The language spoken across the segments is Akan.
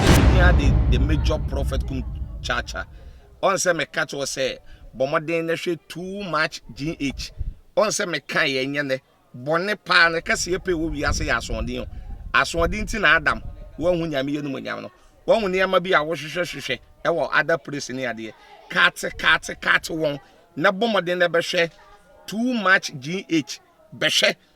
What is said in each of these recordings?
Nehemia de the major prophet kum kyaakya. Ɔn sɛ meka kyerɛ sɛ bɔ mmɔden na hwɛ too much GH. Ɔn sɛ meka yɛ nyɛ nɛ bɔne paa ne kɛseɛ pɛ wɔ wiase yɛ asoɔden o. Asoɔden ti na Adam wanhu nyame yɛ no mu nyam no. Wahu nneɛma bi a wohwehwɛ hwehwɛ ɛwɔ other place ne adeɛ. Kaate kaate kaate wɔn na bɔ mmɔden na bɛhwɛ too much GH. Bɛhwɛ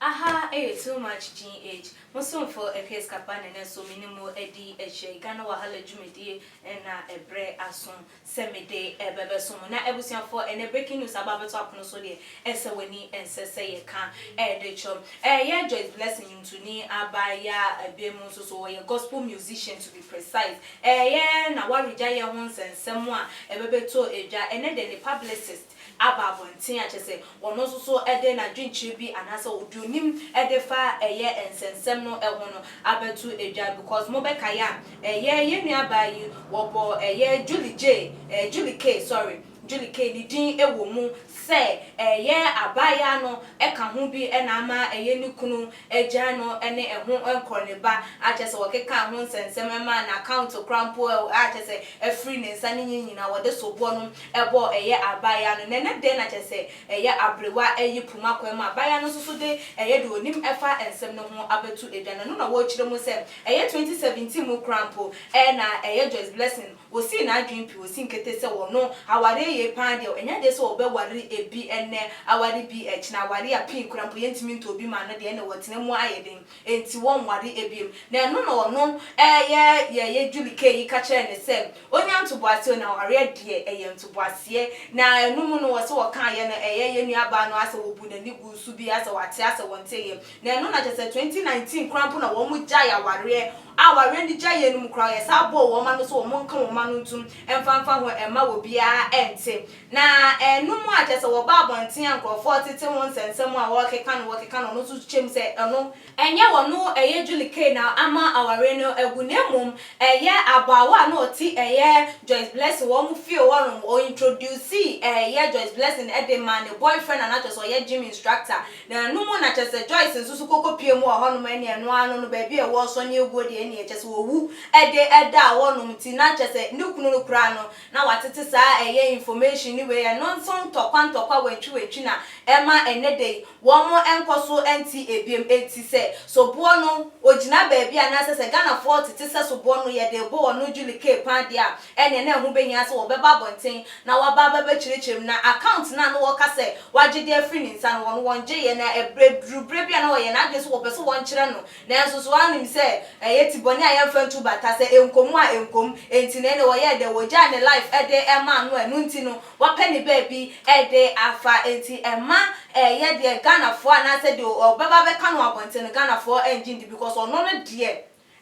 Aha ɛyɛ too much GH. Mo somfo Epius Kapane no nso menim wo adi akyire. Ghana Wahala dwumadie na ɛbrɛ aso. sɛ mede bɛbɛso mo. Na abusuafoɔ, ɛnnɛ breaking news aba abɛto apono so deɛ ɛsɛ w'ani ɛnsɛ sɛ yɛka de kyerɛ wo. Ɛyɛ Joyce Blessing nwomtoni abaayewa bia mu nso so ɔyɛ gospel musician to be precise. Ɛyɛ na waregya yɛ ho nsɛnsɛm a ɛbɛbɛtɔ dwa ɛnnɛ deɛ ne publicist, aba abɔnten a, kyerɛ sɛ, ɔno nso so de n'adwenkyerɛ bi anaasɛ deɛ ɔnim de fa ɛyɛ nsɛnsɛm no ho no abɛto dwa. Because mobɛkae a, ɛyɛ yɛn nuabaa yi, wɔbɔɔ ɛyɛ Julie Jay, ɛɛ Julie Kay, sorry, Julie Kay ne din wɔ mu sɛ ɛyɛ abaayaa no ka ho bi na ama ɛyɛ ne kunu agyan no ne ɛho nkɔ ne ba a kyerɛ sɛ wɔkekaa ho nsɛnsɛm maa no account koraa mpo a kyerɛ sɛ afiri ne nsa ne nyi nyinaa wɔde soboɔ no bɔɔ ɛyɛ abaayaa no nɛnɛ dɛn na kyerɛ sɛ ɛyɛ abrewa ayi poma kwan mu abaayaa no nso so de ɛyɛ deɛ ɔnim ɛfa nsɛm no ho abɛto dwa no ɛno na wɔkyerɛ mu sɛ ɛyɛ 2017 mu koraa mpo na ɛyɛ Joyce Blessing Osii n'adwene pi, osii nkete sɛ ɔno, awareɛ yei paa deɛ, ɛnyɛ adeɛ sɛ ɔbɛware ebi ɛnnɛ, aware bi ɛkyena, aware a pii koraa mpo yɛntumi ntɔ bi ma no deɛ, ɛnna ɔtena mu ayɛ den, enti wɔnware biom. Na ɛno na ɔno, ɛɛ, yɛɛ Julie Kay yi ka kyerɛɛ no sɛ ɔnya ntoboaseɛ o, na awareɛ deɛ ɛyɛ ntoboaseɛ. Na ɛno mu no, ɔsɛ ɔkaeɛ no, ɛyɛ yɛn nuabaa no asɛ ɔbuu n'ani guu so bi, asɛ wate asɛ wɔnteeɛ. Na ɛno na kyerɛ sɛ twenty nineteen koraa mpo na wɔn gyae awareɛ a awareɛ no gya yɛ no mu koraa yɛsan bɔɔ wɔn ano sɛ wɔn nka wɔn ano ntom mfa mfa ho mma obiara nte na ɛno mu a kyerɛ sɛ wɔba abɔnten a nkorɔfoɔ tete ho nsɛnsɛm a wɔkeka no wɔkeka no ɔno nso kyɛ mu sɛ ɛno nyɛ ɔno ɛyɛ Julie Kay na ama awareɛ no agu na mmom ɛyɛ abaawa a na ɔte ɛyɛ Joyce Blessing wɔn fie hɔ nom ɔ introducee ɛyɛ Joyce Blessing de maa ne boyfriend a na kyerɛ sɛ ɔyɛ gym instructor Na ɛno mu na kyɛsɛ Joyce nso so koko pie mu wɔ hɔ nom ɛne ɛno ara no no baabi a ɛwɔ sɔ ne aguo deɛ ɛneɛ kyɛsɛ owu ɛde ɛdaa hɔ nom nti na kyɛsɛ ne kunu no koraa no na watete saa ɛyɛ information ne wei ɛno nso ntɔkwa ntɔkwa wantwi wantwi na ɛma ɛnɛ da yi wɔn nkɔ so nte ɛbiem ɛnti sɛ soboɔ no ogyina baabi a na ɛsɛ sɛ Ghanafoɔ tete sɛ soboɔ no yɛde bɔ wɔn no Julie Kay paa deɛ a ɛnneɛ na ɛho bɛhia sɛ wɔbɛba abɔnten na wɔaba abɛbɛkyerɛkyerɛ mu, na account no a na wɔka sɛ wɔagye de afiri ne nsa no, wɔn wɔngyeeɛ, na ɛberɛ duruu berɛ bi a na wɔyɛ n'adwene sɛ wɔpɛ sɛ wɔnkyerɛ no, nanso so wɔanim sɛ ɛyɛ tibɔne a yɛmfa ntu bata, sɛ ɛnkɔm a ɛnkɔm, enti na ɛnneɛ wɔyɛɛ dɛn, wɔgyaa ne life de maa no a ɛno nti no wɔapɛ ne baabi de afa, enti ɛmma ɛyɛ deɛ Ghanafoɔ anaasɛ deɛ wɔbɛba abɛka no wɔ abɔnten no Ghanafoɔ ngye ndi because ɔno no deɛ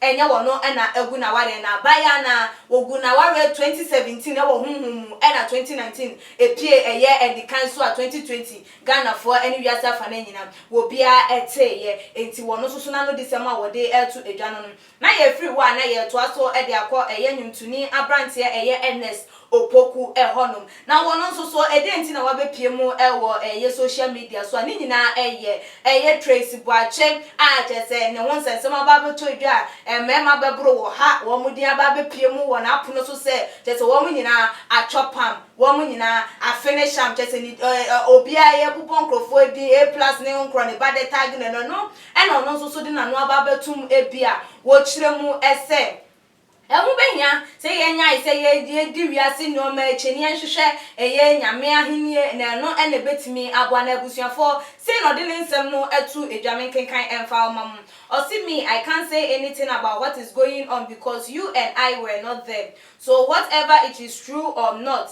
Ɛnyɛ wɔn na agu n'awareɛ no aban a na wɔguu n'awareɛ 2017 wɔ honhom mu na 2019 ɛpue ɛyɛ anikan so a 2020 Ghanafoɔ ne wiase afanaa nyinaa wɔ biara teeɛ enti wɔn nso so n'anodisɛm a wɔde reto dwa no no na yɛfiri hɔ a na yɛretoa so de akɔ ɛyɛ nwomtoni aberanteɛ ɛyɛ Ernest Opoku hɔnom. Na wɔn nso so, dɛn nti na wɔabɛpue mu wɔ ɛyɛ social media so a ne nyinaa yɛ ɛyɛ Tracy Boakye a kyerɛ sɛ ne ho nsɛnsɛm aba abɛtɔ dwa a mmarima bɛboro wɔ ha wɔn din aba abɛpue mu wɔ n'apono so sɛ kyerɛ sɛ wɔn nyinaa atɔ pam, wɔn nyinaa afene sham kyerɛ sɛ ne obiara yɛbobɔ nkorɔfoɔ din A plus ne ho nkorɔ ne ba dɛtag no ɛno ɛno ɛna ɔno nso so de n'ano aba abɛtom bi a wɔkyerɛ mu sɛ. Ɛho behia sɛ yɛnyae sɛ yedi wiase nneɛma akyi na yɛnhwehwɛ ɛyɛ Nyame Ahenni, na ɛno na ebetumi aboa. Na abusuafo, sei na ɔde ne nsɛm no to dwa, Menkenkan ɛmfa mma mo. Ɔse, Me, I can't say anything about what is going on because you and I were not there. So whatever it is true or not,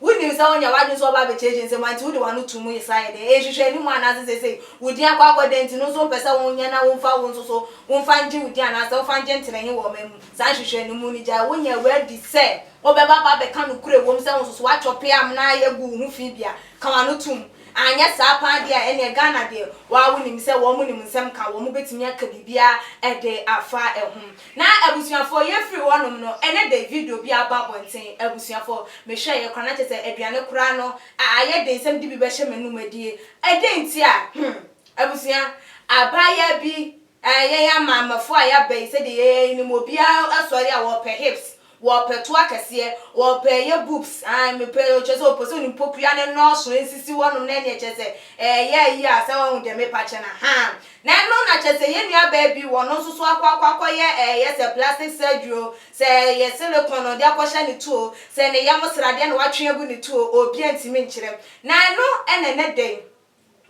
Wunim sɛ wonya w'adwene sɛ wobɛba abɛkyerɛkyerɛ nsɛm a nti wode w'ano to mu saa yɛ dɛn? Nhwehwɛ anim anaasɛ seesei wo din akɔ akɔ dɛn nti no nso wopɛ sɛ wonya na womfa wo nso so womfa ngye wo din anaasɛ womfa ngye ntena he wɔ ɔman mu? Saa nhwehwɛne mu no gyae wo nyɛ wo adi sɛ wobɛba aba abɛka nokorɛ ɛwom sɛ wo nso so woatwɔpe amena ayɛ agu wo ho fi bia ka w'ano to mu anyɛ saa paa deɛ a ɛneɛ Ghana deɛ woaa wonim sɛ wɔnom nsɛm ka wɔn bɛtumi aka biribiaa de afa ho. Na abusuafoɔ yɛfiri hɔ nom no ɛne de video bi aba abɔnten abusuafoɔ mehwɛ yɛ kora na kyɛ sɛ aduane koraa no a ayɛ den sɛ mede bi bɛhyɛ m'anum adie ɛdɛn nti a hmm abusua abaayaa bi ɛɛ yɛn amaamafoɔ a yɛaba yi sɛdeɛ yɛyɛ yi nim obiara sɔre a wɔpɛ hips Wɔpɛ toa kɛseɛ, wɔpɛ ɛyɛ boobs ae mepɛ kyerɛ sɛ wɔpɛ sɛ onim pokua no nnɔɔso nsisi wɔnom na ɛneɛ kyerɛ sɛ ɛyɛ ayi a sɛ wahu deɛ mepa kyɛ no ahaa na ɛno na kyerɛ sɛ yɛn nua baa bi wɔno nso so akɔ akɔ akɔ yɛ ɛyɛ sɛ plastic surgery o sɛ ɛyɛ silicone ɔde akɔ hyɛ ne tuo sɛ ne yam sradeɛ na watwe agu ne tuo obi antumi nkyerɛ na ɛno ɛna ɛnɛ da yi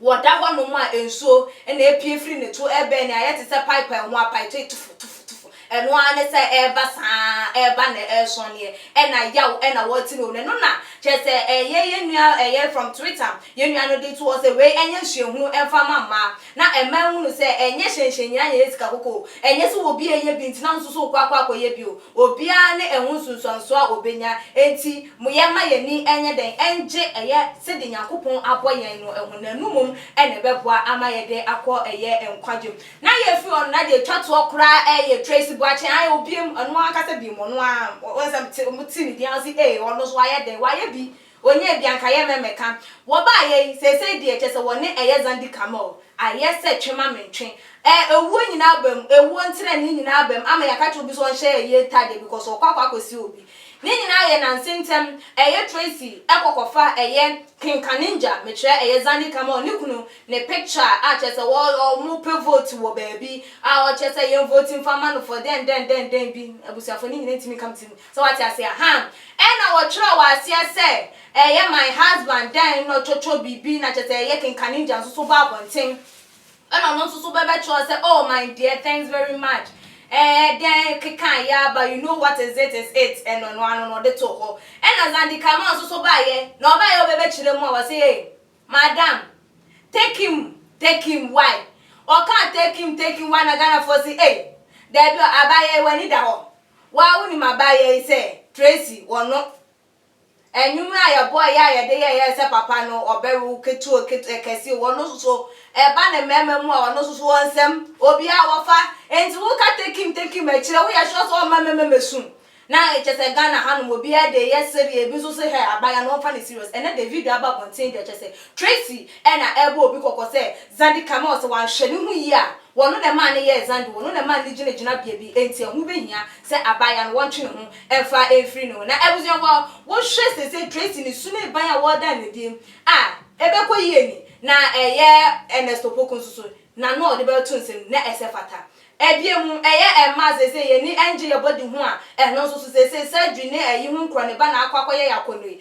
Wɔda hɔnom a nsuo na ɛrepue firi ne to rebɛn nea ayɛ te sɛ pipe a ɛho apae tei tufu tufu tufu. Ɛno ara ne sɛ ɛreba saa ara, ɛreba na ɛresɔneɛ, ɛna yaw na wɔrete no. Na ɛno na kyerɛ sɛ ɛyɛ yɛn nua ɛyɛ from Twitter, yɛn nua no de to hɔ sɛ wei nyɛ nsuahunu mfa mma mmaa na mmaa nhunu sɛ ɛnyɛ hyɛnhyɛnnyina na ɛyɛ sika kɔkɔɔ. Ɛnyɛ sɛ obi reyɛ bi nti na wo nso so rekɔ akɔ akɔyɛ bi o. Obiara ne ɛho nsunsuansoɔ a ɔbɛnya nti. Moyɛ ma yɛn ani nyɛ dɛn ngye ɛyɛ sɛdeɛ Nyankopɔn abɔ yɛn no honam no mmom na ɛbɛboa ama yɛde akɔ ɛyɛ nkwagye mu. Na yɛfiri hɔ no na deɛ ɛtwa toɔ koraa ɛyɛ Tracy Boakye ae o biam ɔno ankasa biam ɔno aa wohu sɛ mete ɔmo te ne din a wose ee ɔno nso wayɛ dɛn wayɛ bi ɔnyɛɛ bi anka yɛ mɛmɛka wɔbaayɛ yi seesei deɛ kyerɛ sɛ wɔne ɛyɛ Zandi Kamel ayɛ sɛ twe ma mentwe ɛɛ owuo nyinaa aba mu ewuo ntenanee nyinaa aba mu ama yɛaka kyerɛ obi sɛ ɔnhyɛ ɛyɛ ntaadeɛ because ɔkɔ akɔ akɔsi obi Ne nyinaa yɛ nanse ntɛm ɛyɛ Tracy ɛkɔ kɔfa ɛyɛ kenkanengya mekyerɛ ɛyɛ Zandy kama ɔne kunu ne picture a kyerɛ sɛ wɔ ɔmo pɛ vote wɔ baabi a ɔkyerɛ sɛ yɛn vote mfa ma no for dɛn dɛn dɛn dɛn bi abusuafo ne nyinaa ntumi nka me tirim sɛ wate aseɛ ahaa ɛna wɔtwerɛ wɔ aseɛ sɛ ɛyɛ my husband dɛn na ɔtwɔtwɔ biribi na kyerɛ sɛ ɛyɛ kenkanengya nso so ba abɔnten Ɛna ɔno nso so bɛbɛkyerɛw sɛ, Oh my dear, thanks very much, ɛɛ dɛn kekae yi ara ba, you know what is it is it, ɛna ɔno ara no na ɔde too hɔ. Ɛna Zandi Kama nso so baeɛ, na ɔbaeɛ a ɔbɛbɛkyerɛ mu a, ɔse, Hey, madam, take him, take him, why? Ɔkaa take him, take him, why? Na Ghanafoɔ se, Ei, daabi o, abaayewa yi w'ani da hɔ, wo ara wonim abaayewa yi sɛ Tracy, ɔno. Anwummerɛ a yɛbɔɔ yɛ a yɛde yɛyɛɛ sɛ papa no ɔbɛwe wo ketewa o ketewa kɛseɛ o ɔno nso so ɛba ne mmarima mu a ɔno nso so ɔnsɛm obiara wɔfa nti wo ka take him take him akyire wo yɛ sure sɛ ɔmma mmarima mɛsu na kyɛ sɛ Ghana ha nom obiara de yɛ sereɛ ebi nso sɛ hɛ aban ano ɔmfa ne serious ɛnɛ Davido aba abɔnten deɛ kyɛ sɛ Tracy ɛna ɛbɔ obi kɔkɔ sɛ Zandikame ɔsɛ wanhwɛ ne ho yie a Wɔno na ɛmaa no yɛɛ Zando, wɔno na ɛmaa no gyina gyinabea bi, enti ɛho bɛhia sɛ abaayaa no wɔntwe ne ho mfa mfiri ne ho. Na abusuafoɔ, wohwɛ seesei Tracy ne su ne ban a wɔreda no adi a, ɛbɛkɔ yie ni? Na ɛyɛ Ernest Opoku nso so, n'ano a ɔde bɛto nsɛm no, na ɛsɛ fata. Ɛdeɛ mu, ɛyɛ mmaa a seesei yɛn ani nnye yɛn body ho a, ɛno nso so seesei surgery ne ayi ho nkura ne ba na akɔ akɔyɛ yɛn akɔnnɔ yi,